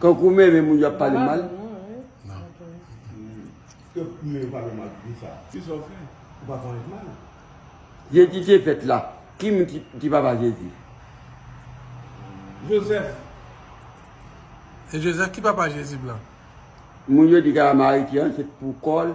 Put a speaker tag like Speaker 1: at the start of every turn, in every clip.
Speaker 1: Kankou men men
Speaker 2: moun yo ap pale mal.
Speaker 1: Jezi
Speaker 2: te fèt la. Ki moun ki papa Jezi?
Speaker 3: Joseph.
Speaker 4: E Joseph ki papa Jezi blan? Moun yo
Speaker 2: di Kayamari ki ansent pou kòl.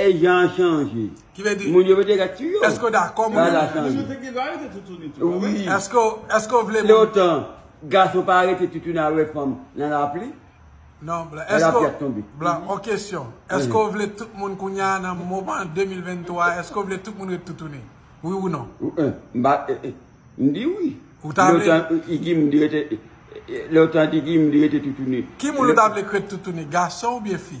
Speaker 2: E jan an chanje. Ki vle di. Moun yo mete
Speaker 4: ret sou yo.
Speaker 2: Eske w dakò moun yo mete ret
Speaker 4: sou yo? Moun yo te gen
Speaker 2: dwa rete toutouni tou
Speaker 4: a vre. Eske w vle. Leotan,
Speaker 2: gason pa rete toutouni al wè fanm nan lapli. Non blan. Lè
Speaker 4: lapli ap tonbe. Blan, on kesyon. Eske w vle tout moun kounye a nan moman 2023 a, eske w vle tout moun ret toutouni? Wi ou non? M pa,
Speaker 2: m di wi. Ou ta vle. Leotan,
Speaker 4: Igim m di rete,
Speaker 2: Leotan, Igim m di rete toutouni. Ki moun ou ta vle k ret
Speaker 4: toutouni? Gason oubyen fi?